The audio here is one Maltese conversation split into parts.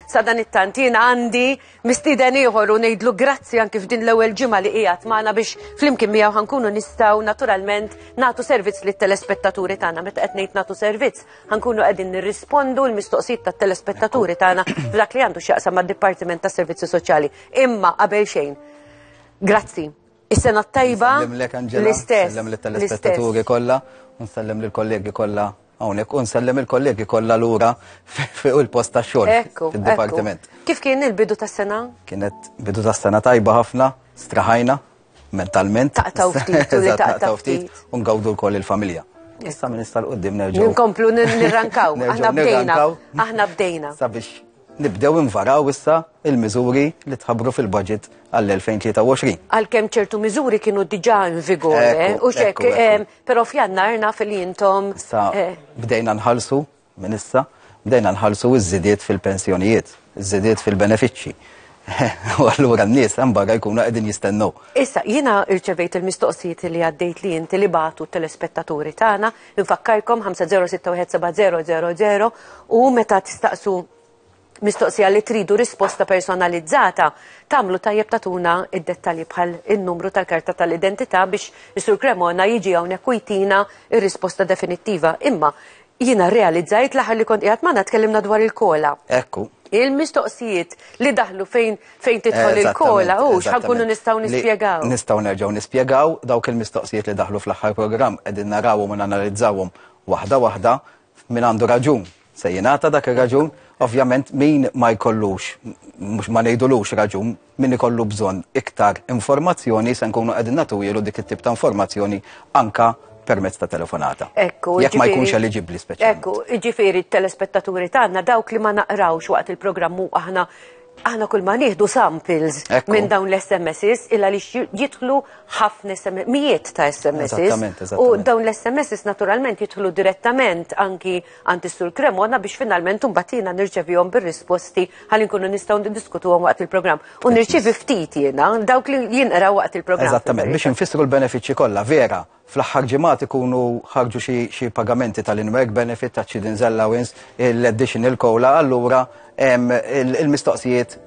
Sadanittant jien għandi mistieden ieħor u ngħidlu grazzi anki f'din l-ewwel ġimgħa li qiegħed magħna biex flimkien miegħu ħankunu nistgħu naturalment nagħtu servizz lit-telespettaturi tagħna meta qed ngħid nagħtu servizz ħankunu qegħdin nirrispondu l-mistoqsijiet tat-telespettaturi tagħna f'dak li għandu x'jaqsam mad-Dipartiment tas-Servizzi Soċjali. Imma qabel xejn, grazzi. Is-sena t-tajba. Nsellem Angela. L-istess. Nsellem l-telespettaturi kollha, nsellem l-kollegi kollha hawnhekk u nsellem il-kollegi kollha lura fuq il-post tax-xogħol fid-dipartiment. Kif kien il-bidu tas-sena? Kienet bidu tas-sena tajba ħafna, straħajna mentalment. Taqtaw ftit, taqtaw ftit. Ungawdu l-koll il-familja. Issa minn issa l-qoddim nerġgħu. Nkomplu nirrankaw, aħna bdejna. Aħna bdejna. Sabiex Nibdew invaraw issa il-miżuri li tħabbru fil-budget għall-2023. Għalkemm ċertu miżuri kienu diġà in vigore, eh, Ekku, u xek, ekku, ekku. em, però f'jannar naf li intom. Sa eh, bdejna nħallsu minn issa, bdejna nħallsu iż-żidiet fil-pensjonijiet, iż-żidiet fil-benefiċċji. U allura n-nies hemm barra jkunu qegħdin jistennew. Issa, jiena irċevejt il-mistoqsijiet li għaddejt li inti li batu telespettaturi tagħna Infakkarkom 50617000 u meta tistaqsu mistoqsija li tridu risposta personalizzata, tamlu tajjeb tatuna id-dettalji bħal il-numru tal-karta tal-identità biex Isur Cremona jiġi hawnhekk u jtina ir-risposta definittiva. Imma jiena realizzajt l-aħħar li kont qiegħed magħna tkellimna dwar il-kola. Ekku. Il-mistoqsijiet li daħlu fejn Fejn tidħol il-kola, u xħankunu nistaw nispiegaw. Nistaw nerġaw nispiegaw dawk il-mistoqsijiet li daħlu fl-axħar program, edin narawum u nanalizzawum wahda wahda, min għandu raġun se jenata dak il-raġun, ovvjament min ma jkollux, mux ma nejdulux raġun, min ikollu bżon iktar informazzjoni se nkunu edin natu jilu dik it-tip ta' informazzjoni anka permezz ta' telefonata. Ekku, jekk ma jkunx eligibli speċjalment. Ekku, ġifieri t-telespettaturi tagħna dawk li ma naqrawx waqt il-programmu aħna Aħna kull ma nieħdu samples minn dawn l-SMSs illa li jidħlu ħafna mijiet ta' SMSs. U dawn l-SMSs naturalment jidħlu direttament anki għand is-sur Kremona biex finalment umbatina nirċevihom bir-risposti ħalli nkunu nistgħu niddiskutuhom waqt il-programm. U nirċevi ftit jiena dawk li jinqraw waqt il-programm. Eżattament, biex infissru l-benefiċċji kollha vera. Fl-aħħar ġimgħat ikunu ħarġu xi pagamenti tal-in-work benefit taċ-chidden's allowance, l-additional COLA, allura il-mistoqsijiet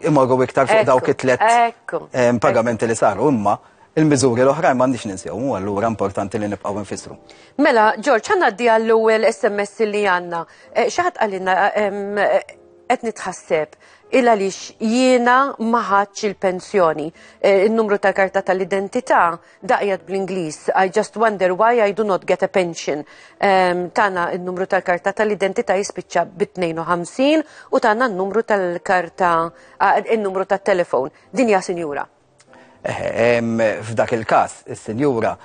imorru iktar fuq dawk it-tliet pagamenti li saru. Imma il-miżuri l-oħrajn m'għandniex ninsewhom u allura importanti li nibqgħu nfissru. Mela, George, ħa ngħaddi għall-ewwel SMS li għandna. Eh, xi ħadd qalilna eh, qed nitħasseb il għaliex jiena ma ħadx il-pensjoni. Eh, in-numru tal-karta tal-identità Da qiegħed bl-Ingliż, I just wonder why I do not get a pension. Um, tana n-numru tal-karta tal-identità jispiċċa bit-52 u tana n-numru tal-karta, ah, n-numru tal-telefon. Din hija sinjura. Eh, f'dak il-każ, is-sinjura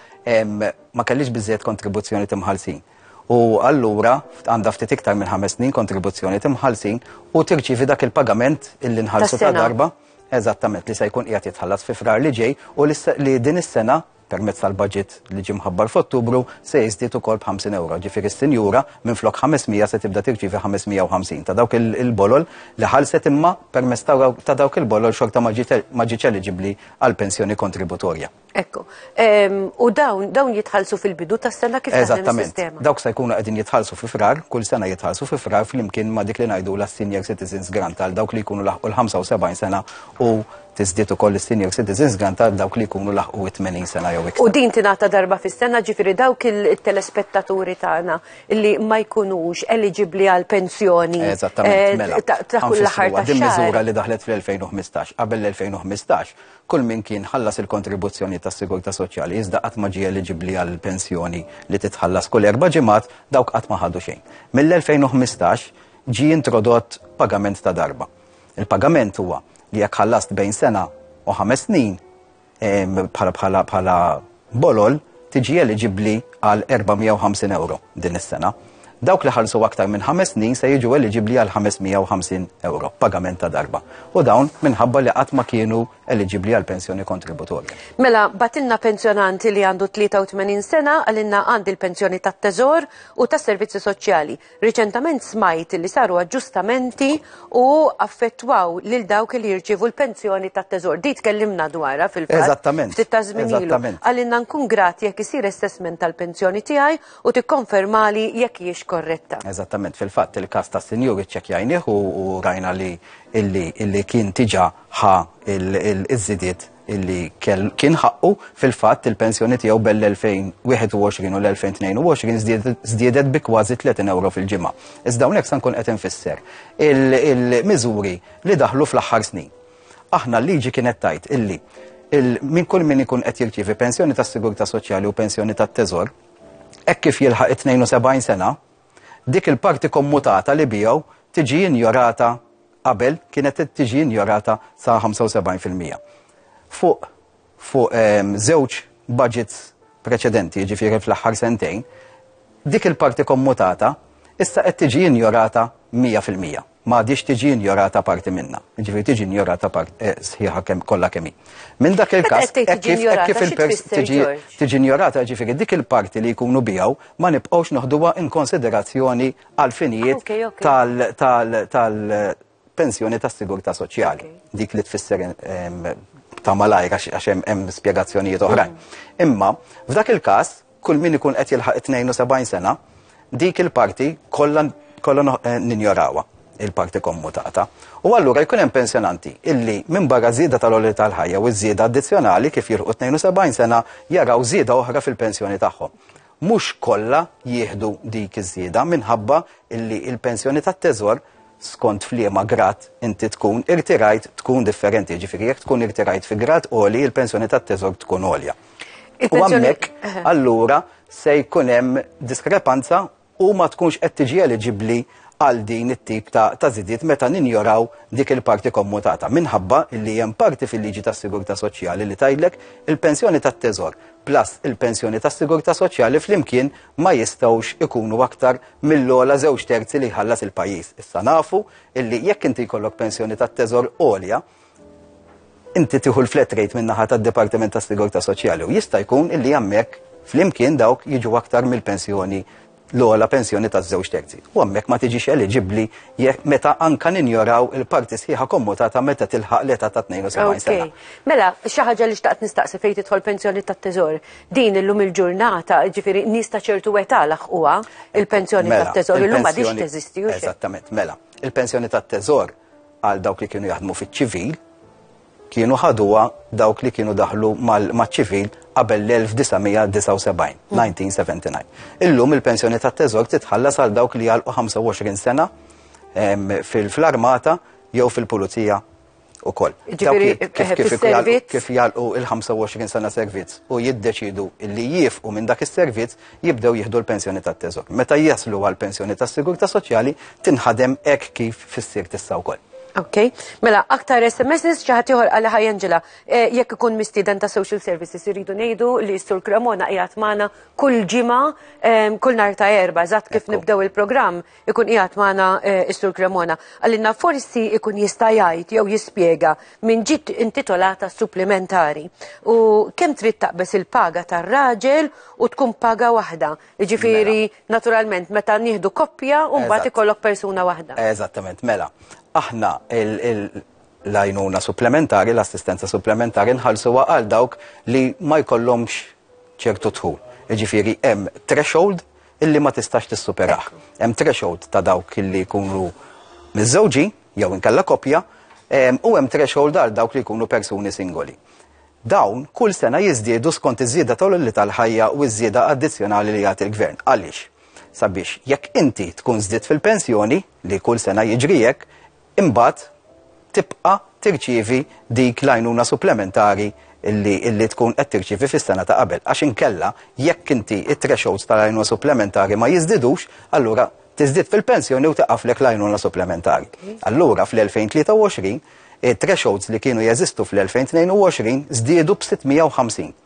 ma kellix biżejjed kontribuzzjoni timħalsin. U allura għandha ftit iktar minn ħames snin kontribuzzjoni timħalsin u tirċivi dak il-pagament illi nħallsu ta' darba. eżattament li se jkun qiegħed jitħallas fi Frar li ġej u li din is-sena permezz tal-budget li ġie mħabbar f'Ottubru se jiżdied ukoll b'50 ewro. Ġifieri s-sinjura minflok 500 se tibda tirċievi 550 ta' dawk il-bolol li ħallset imma permezz ta' dawk il-bolol xorta ma ġietx eliġibbli għall-pensjoni kontributorja. Ekku. U dawn, dawn jitħalsu fil-bidu ta' sena kif taħdem sistema. Dawk se jkunu qegħdin jitħalsu fi frar, kull sena jitħalsu fi frar flimkien ma' dik li ngħidu la senior citizens grant għal dawk li jkunu laħqu l-75 sena u tiżdiet ukoll is-senior citizens grant għal dawk li jkunu laħqu 80 sena jew iktar. U din tingħata darba fis-sena ġifieri dawk il-telespettaturi tagħna li ma jkunux eliġibbli għal pensjoni. Eżattament, eh, mela. Ta' kull aħħar ta' miżura li daħlet fl-2015. Qabel l-2015 Kull min kien ħallas il-kontribuzzjonijiet tas-sigurtà soċjali iżda qatt ma ġie eliġibbli għal pensjoni li titħallas kull erba' ġimgħat, dawk qatt ma ħadu xejn. Mill-2015 ġie introdott pagament ta' darba. Il-pagament huwa li jekk ħallast bejn sena u ħames snin, bħala Bolol tiġi eliġibbli għal €450 din is-sena. Dawk li ħallsu aktar minn ħames snin se jiġu eliġibbli għal €550, pagament ta' darba, u dawn minħabba li qatt ma kienu eliġibbli għal pensjoni kontributorja. Mela, bagħtilna pensjonant li għandu 83 sena qalilna għandi l-pensjoni tat-Teżor u tas-Servizzi Soċjali. Riċentament smajt li saru aġġustamenti u affettwaw lil dawk li jirċievu l-pensjoni tat-teżor. Di tkellimna dwarha fil-fatt. Eżattament. Ftit ta' żmien ilu. Għalinna nkun grat jekk isir assessment tal-pensjoni tiegħi u tikkonfermali jekk hijiex korretta. Eżattament. Fil-fatt il-każ tas-sinjur iċċekkjajnih u rajna li kien diġà ħa ż-żidiet illi kien ħaqqu fil-fatt il-pensjoni tiegħu bell-2021 u l-2022 żdiedet bi kważi 30 euro fil-ġimgħa. Iżda hawnhekk se nkun qed infisser il-miżuri li daħlu fl-aħħar snin. Aħna l-liġi kienet tajt illi minn kull min ikun qed jirċievi pensjoni tas-sigurtà soċjali u pensjoni tat-teżor, hekk kif jilħaq 72 sena, Dik il-parti kommutata li bigħu tiġi injorata qabel kienet tiġi injorata sa 75 fil-mija. Fuq fuq ehm, żewġ budgets preċedenti, jiġifieri fl-aħħar sentejn, dik il-parti kommutata issa qed tiġi injorata 100 fil-mija. ma għadhiex tiġi injorata parti minnha. Jiġifieri tiġi injorata part eh, sħiħa kemm kollha kemm hi. Minn dak il-każ kif il-pers tiġi injorata ġifieri dik il-parti li jkunu bijaw ma nibqgħux noħduha in konsiderazzjoni għal finijiet tal-pensjoni tas-sigurtà soċjali. Dik li tfisser ta' malajr għax hemm spjegazzjonijiet oħrajn. Imma f'dak il-każ Kull min ikun qed jilħaq it-72 sena, dik il-parti kollha kollha eh, ninjorawha il-parti kommutata. U allura jkun hemm pensjonanti illi minn barra żieda tal-oli tal-ħajja u żieda addizzjonali kif jilħu 72 sena jaraw żieda oħra fil-pensjoni tagħhom. Mhux kollha jieħdu dik iż-żieda minħabba illi il-pensjoni tat-teżor skont fliema grad inti tkun irtirajt tkun differenti, ġifieri jekk tkun irtirajt fi grad oli il-pensjoni tat-teżor tkun olja. U għammek, allura se jkun hemm diskrepanza u ma tkunx qed tiġi eliġibbli għal din it-tip ta', ta zidiet meta ninjoraw dik il-parti kommutata. Minħabba li hemm parti fil-liġi tas-sigurtà soċjali li tajlek il-pensjoni tat-teżor plus il-pensjoni tas-sigurtà soċjali flimkien ma jistgħux ikunu aktar mill-ola żewġ terzi li jħallas il-pajjiż. Issa nafu illi jekk inti jkollok pensjoni tat-teżor għolja, Inti tieħu l-flat rate min-naħa tad-Dipartiment tas-Sigurtà Soċjali u jista' jkun illi hemmhekk flimkien dawk jiġu aktar mill-pensjoni l-ogħla pensjoni taż-żewġ terzi. U hemmhekk ma tiġix eliġibbli jekk meta anka ninjoraw il-parti sħiħa kommutata meta tilħaq l-età ta' 72 sena. Mela, xi ħaġa li xtaqt nistaqsi fejn tidħol pensjoni tat-teżor. Din illum il-ġurnata, ġifieri nies ta' ċertu età laħquha il-pensjoni mela, tat-teżor illum ma dix teżisti. Eżattament, mela. Il-pensjoni tat-teżor għal dawk li kienu jaħdmu fiċ-ċivil, kienu ħaduha dawk li kienu daħlu maċ-ċivil qabel l-1979, 1979. Illum il-pensjoni ta' teżor titħallas għal dawk li għalqu 25 sena fil-armata jew fil-pulizija u koll. Kif jgħalqu il-25 sena servizz u jiddeċidu li jifqu minn dak is-servizz jibdew jieħdu l-pensjoni tat-teżor. Meta jaslu għal pensjoni tas-sigurtà soċjali tinħadem hekk kif fis-sir tista' wkoll. Ok, mela aktar SMS ċaħat ieħor għal ħaj Angela. Eh, jekk ikun mistieden ta' social services irridu ngħidu li s-sur Cremona qiegħed magħna kull ġimgħa ehm, kull nhar ta' erba' eżatt kif nibdew il-programm. ikun qiegħed magħna eh, Istur Cremona, għallinna forsi ikun jista' jgħid jew jispjega minn ġiet intitolata supplementari u kemm trid taqbeż il-paga tar-raġel u tkun paga waħda. Jiġifieri mela. naturalment meta nieħdu koppja u mbagħad ikollok persuna waħda. Eżattament, mela. Aħna l-għajnuna supplementari, l-assistenza supplementari nħallsu għal dawk li ma jkollhomx ċertu dħul. Jiġifieri hemm threshold illi ma tistax tissuperah. Hemm threshold ta' dawk illi jkunu miżżewġin jew inkella koppja ehm, u hemm threshold għal dawk li jkunu persuni singoli. Dawn kull sena jiżdiedu skont iż-żieda tal-olli tal-ħajja u ż-żieda addizzjonali li jagħti l-gvern. Għaliex? Sabiex jekk inti tkun żdied fil-pensjoni, li kull sena jiġri hekk, imbagħad tibqa' tirċievi dik l-għajnuna supplementari li tkun qed tirċievi fis-sena ta' qabel. Għax inkella, jekk inti t-thresholds tal-għajnuna supplementari ma jiżdidux, allura tiżdied fil-pensjoni u tieqaflek l-għajnuna supplementari. Allura fl-2023, it-thresholds li kienu jeżistu fl-2022 żdiedu b' 650.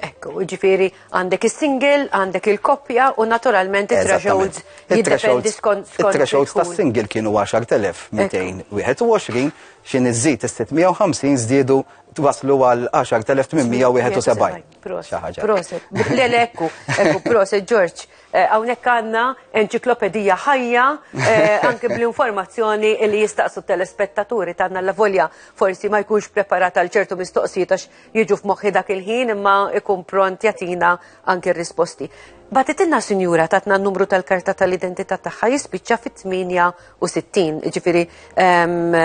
Ekku, ġifiri, għandek il-single, għandek il-koppja u naturalment il-thresholds jiddependi skont. Il-thresholds ta' single kienu 10.221, xin iżżid il-650 zdidu twaslu għal 10.871. Proset, proset, l-ekku, ekku, proset, George. Għawnek eh, għanna enċiklopedija ħajja, eh, anke bl-informazzjoni li jistaqsu telespettaturi tanna la volja forsi ma jkunx preparata għal ċertu mistoqsijiet għax jiġu f'moħħi dak il-ħin imma ikun pront jatina anke risposti. Batitinna sinjura tatna n-numru tal-karta tal-identità tagħha jispiċċa fit-68, ġifiri ehm,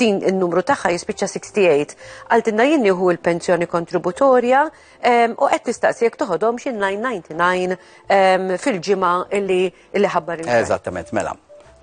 din n-numru tagħha jispiċċa 68. Għaltinna jien nieħu l-pensjoni kontributorja ehm, u qed nistaqsi jekk toħodhom xi 999 ehm, fil-ġimgħa li Illi ħabbar il Eżattament, mela.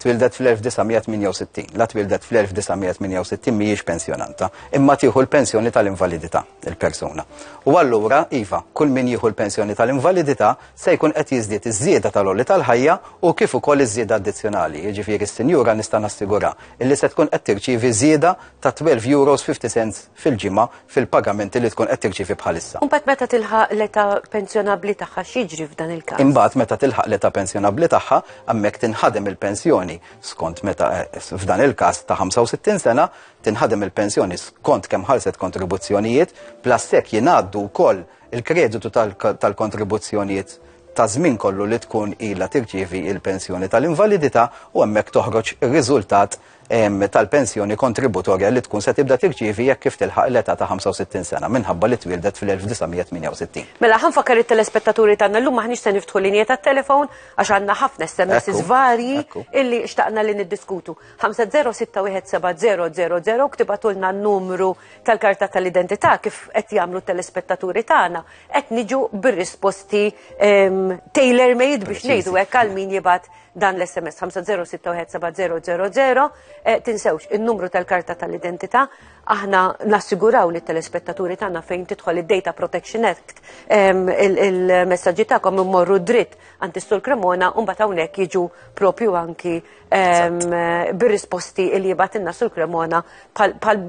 Twildet fl-1968. La twildet fl-1968 mhijiex pensjonanta, imma tieħu l-pensjoni tal-invalidità il-persuna. U allura, iva, kull min jieħu l-pensjoni tal-invalidità se jkun qed jiżdied iż-żieda tal-olli tal-ħajja u kif ukoll iż-żieda addizzjonali. Jiġifieri s-sinjura nista' nassigura illi se tkun qed tirċievi żieda ta' 12 euros 50 cents fil-ġimgħa fil-pagamenti li tkun qed tirċievi bħalissa. U mbagħad meta tilħaq l-età pensjonabbli tagħha x'jiġri f'dan il-każ? Imbagħad meta tilħaq l-età pensjonabbli tagħha hemmhekk tinħadem il-pensjoni skont meta eh, f'dan il-każ ta' 65 sena tinħadem il-pensjoni skont kemm ħarset kontribuzzjonijiet plastek jingħaddu wkoll il-kreditu tal-kontribuzzjonijiet ta' żmien kollu li tkun ilha tirċievi il-pensjoni tal-invalidità u hemmhekk toħroġ ir-riżultat tal-pensjoni kontributorja li tkun se tibda tirċievi jekk kif tilħaq l-età ta' 65 sena minħabba li twieldet fl-1968. Mela, ħanfakkar it-telespettaturi tagħna llum maħniex se niftħu linja tat-telefon għax għandna ħafna SMS varji illi xtaqna li niddiskutu. 5061700 ktibatulna n-numru tal-karta tal-identità kif qed jagħmlu t-telespettaturi tagħna qed niġu bir-risposti tailor made biex ngħidu hekk għal min jibgħat dan l-SMS 50617000 eh, tinsewx il-numru tal-karta tal-identità aħna nassiguraw li telespettaturi tagħna fejn tidħol id-Data Protection Act il-messaġġi tagħkom immorru dritt għand istul Cremona u mbagħad hawnhekk jiġu propju anki bir-risposti li jibatilna sul Cremona pal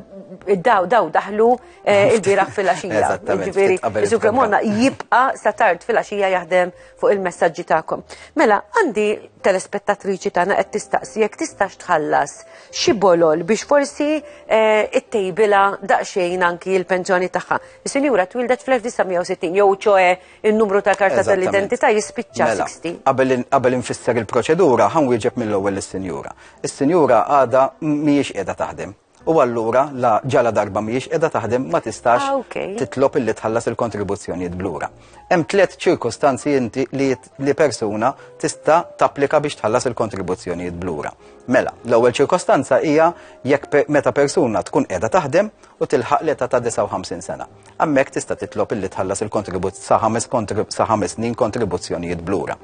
daw daw daħlu eh, il-biraħ fil-għaxija. Ġifieri, sul Cremona jibqa' sa tard fil-għaxija jaħdem fuq il-messagġi tagħkom. Mela, għandi telespettatriċi tagħna qed tistaqsi jekk tistax tħallas xi bolol biex forsi eh, ittejbila daqsxejn anki l-pensjoni tagħha. Is-sinjura twildet fl-1960 jew ċoe in-numru ta' karta tal-identità jispiċċa 60. Mela, qabel infisser il-proċedura ħan wieġeb mill-ewwel is-sinjura. Is-sinjura għada mhijiex qiegħda taħdem. u allura la ġala darba mhijiex qiegħda taħdem ma tistax ah, okay. titlob illi tħallas il-kontribuzzjonijiet blura. Hemm tliet ċirkostanzi inti li, li persuna tista' tapplika biex tħallas il-kontribuzzjonijiet blura. Mela, l-ewwel ċirkostanza hija jekk pe meta persuna tkun qiegħda taħdem u tilħaq l ta' 59 sena. Hemmhekk tista' titlob illi tħallas il-kontribut sa ħames sa ħames snin kontribuzzjonijiet blura.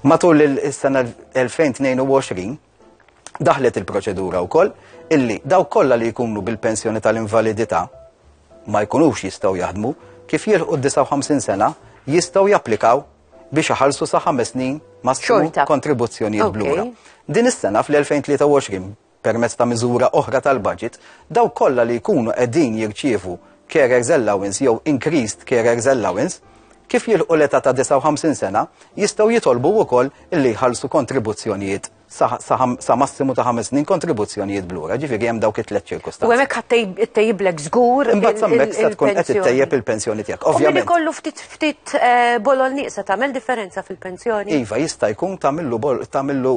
Matul is-sena 2022 daħlet il-proċedura wkoll illi daw kollha li jkunu bil-pensjoni tal-invalidità ma jkunux jistgħu jaħdmu kif jilħu 59 sena jistgħu japplikaw biex iħallsu sa ħames snin ma' xorta kontribuzzjonijiet blura. Din is-sena fl-2023 permezz ta' miżura oħra tal-budget, daw kollha li jkunu qegħdin jirċievu Carers Allowance jew Increased Carers Allowance, kif jilħqu l-età ta' 59 sena, jistgħu jitolbu wkoll li jħallsu kontribuzzjonijiet sa, sa, sa massimu ta' ħames snin kontribuzzjonijiet blura, ġifieri hemm dawk it-tliet U ċirkustanzi. hemmhekk ħadd tejb- ittejjiblek żgur. Imbagħad sammek se tkun qed il-pensjoni. ittejjeb il-pensjoni tiegħek. U min Ovvjament, ikollu ftit ftit eh, bolol nieqsa tagħmel differenza fil-pensjoni. iva jista' jkun tagħmillu bol- tagħmillu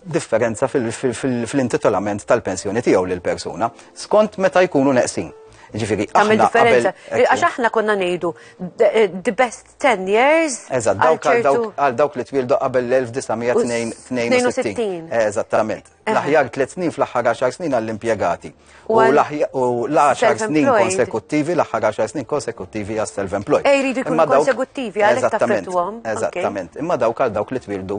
differenza fil-intitolament tal-pensjoni tiegħu lil persuna skont meta jkunu neqsin. Ġifiri, għamil differenza. Għax aħna konna nejdu, eh, the best 10 years. Eżat, għal dawk li twildu qabel l-1962. Eżattament. Eh. L-aħjar 3 snin fl-aħħar 10 snin għall-impiegati. U l-10 snin konsekuttivi, l-aħħar 10 snin konsekuttivi għas self-employed. Ej, eh, ridu jkunu konsekuttivi, għal-eżattament. Eżattament. Imma dawk għal dawk li twildu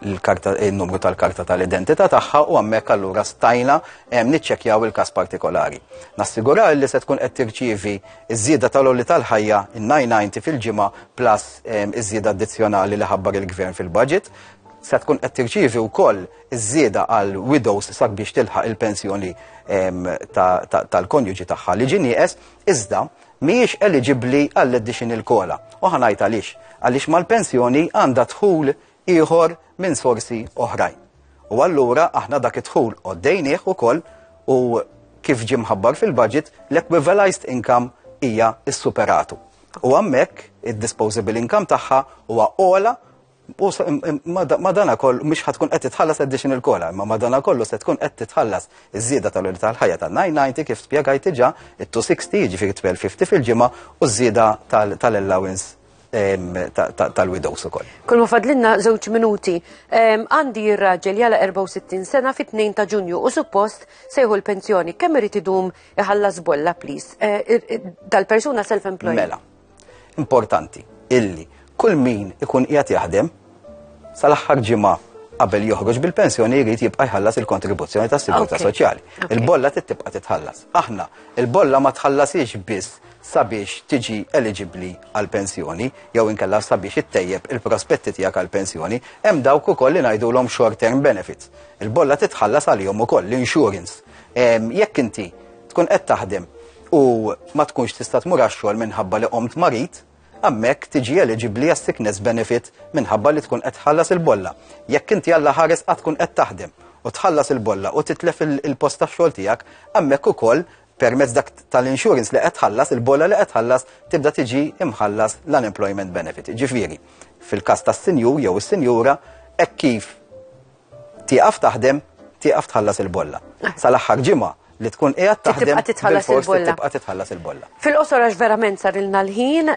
il-numru tal-karta tal-identità tagħha u hemmhekk allura stajna ehm, niċċekkjaw il-każ partikolari. Nassigurar li se tkun qed tirċievi ż-żieda tal-olli tal-ħajja in-990 fil-ġimgħa plus ehm, iż-żieda addizzjonali li ħabbar il-gvern fil-budget se tkun qed tirċievi wkoll iż-żieda għal widows sabiex tilħaq il-pensjoni ehm, tal-konjuġi tagħha li ġinieqes iżda mhijiex eliġibbli għall-additional kola. U ħanajt għaliex għaliex mal-pensjoni għandha dħul ieħor minn sorsi oħrajn. U allura aħna dak id-dħul qoddejnieh ukoll u kif ġie mħabbar fil-budget l-equivalized income hija s-superatu. U għammek id-disposable income tagħha huwa ola u madana kollu mhux ħatkun qed titħallas additional kola, imma madana kollu se tkun qed titħallas iż-żieda tal-uri tal-ħajja ta' 990 kif spjegajt diġà it-260 jiġifieri 1250 fil-ġimgħa u ż-żieda tal-allowance tal-widows ukoll. Kull ma fadlinna żewġ minuti. Għandi r-raġel jala 64 sena fit-2 ta' Ġunju u suppost sejħu l-pensjoni. Kemm irid idum iħallas bolla please? Dal-persuna self-employed. Mela. Importanti illi kull min ikun qiegħed jaħdem sal-aħħar ġimgħa qabel joħroġ bil-pensjoni jrid jibqa' jħallas il-kontribuzzjoni tas-sigurtà soċjali. Il-bolla tibqa' titħallas. Aħna, il-bolla ma tħallasiex biss sabiex tiġi eliġibbli għall-pensjoni jew inkella sabiex ittejjeb il-prospetti tiegħek għall-pensjoni, hemm dawk ukoll li ngħidulhom short term benefits. Il-bolla titħallas għalihom ukoll l-insurance. Jekk inti tkun qed taħdem u ma tkunx tista' tmur għax-xogħol minħabba li qomt marid, hemmhekk tiġi eliġibbli għas-sickness benefit minħabba li tkun qed tħallas il-bolla. Jekk inti Alla ħares qatt tkun qed taħdem u tħallas il-bolla u titlef il-post tax-xogħol tiegħek, hemmhekk ukoll permezz dak tal-insurance li qed tħallas, il-bolla li qed tħallas tibda tiġi imħallas l-unemployment benefit. Ġifieri, fil-każ tas-sinjur jew is-sinjura hekk kif tieqaf taħdem, tieqaf tħallas il-bolla. Ah. Sal-aħħar ġimgħa li tkun qiegħed taħdem tibqa' titħallas il-bolla. Tibqa' titħallas il-bolla. Fil-qosor għax verament sarilna l-ħin,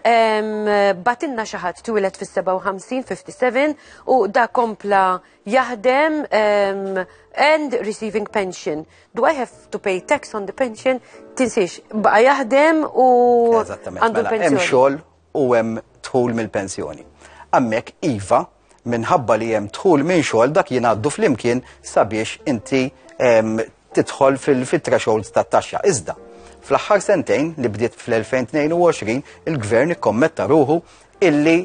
batinna xi ħadd twilet fis-57, 57 u da kompla jaħdem um, and receiving pension. Do I have to pay tax on the pension? Tinsiex, baqa jaħdem u għandu mela, l-pensjoni. Hemm xogħol u hemm tħul mill-pensjoni. Għammek iva minħabba li hemm tħul minn xogħol dak jingħaddu flimkien sabiex inti tidħol fil-thresholds tat-taxxa. Iżda, fl-aħħar sentejn li bdiet fl-2022 il-gvern ikkommetta ruħu illi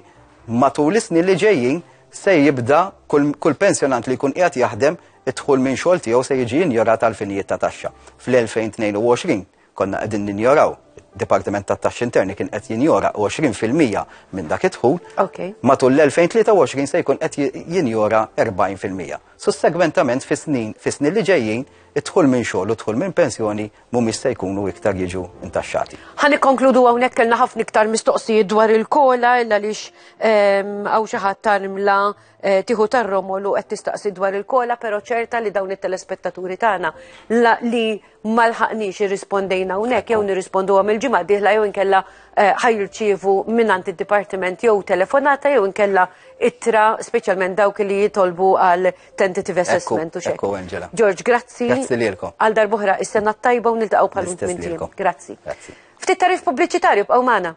matul is-snin li ġejjin se jibda kull pensjonant li jkun qiegħed jaħdem id-dħul minn xogħol tiegħu se jiġi injorat għal finijiet ta' taxxa. Fl-2022 konna qegħdin ninjoraw Dipartiment tat taxxi Interni kien qed jinjora 20% minn dak id-dħul. Okay. Matul l-2023 se jkun qed jinjora 40%. Sussegwentament fis-snin fis-snin li ġejjin id-dħul minn xogħol u dħul minn pensjoni mhumiex se jkunu iktar jiġu intaxxati. Ħa nikkonkludu hawnhekk kellna ħafna iktar mistoqsijiet dwar il-kola illa lix ehm, hawn xi ħadd tarmla eh, tieħu tar-romolu qed tistaqsi dwar il-kola, però ċerta li dawn it-telespettaturi tagħna li malħaqniex irrispondejna hawnhekk jew nirrispondu għam il-ġimgħa diħla jew inkella eh, ħajrċievu mingħand id-dipartiment jew telefonata jew inkella ittra speċjalment dawk li jitolbu għal tentative assessment u xek. Ekku, Angela. George, grazzi. Grazzi lilkom. Għal darbohra, is-sena tajba u niltaqgħu bħal minn Grazzi. Ftit tarif pubbliċitarju b'għaw magħna.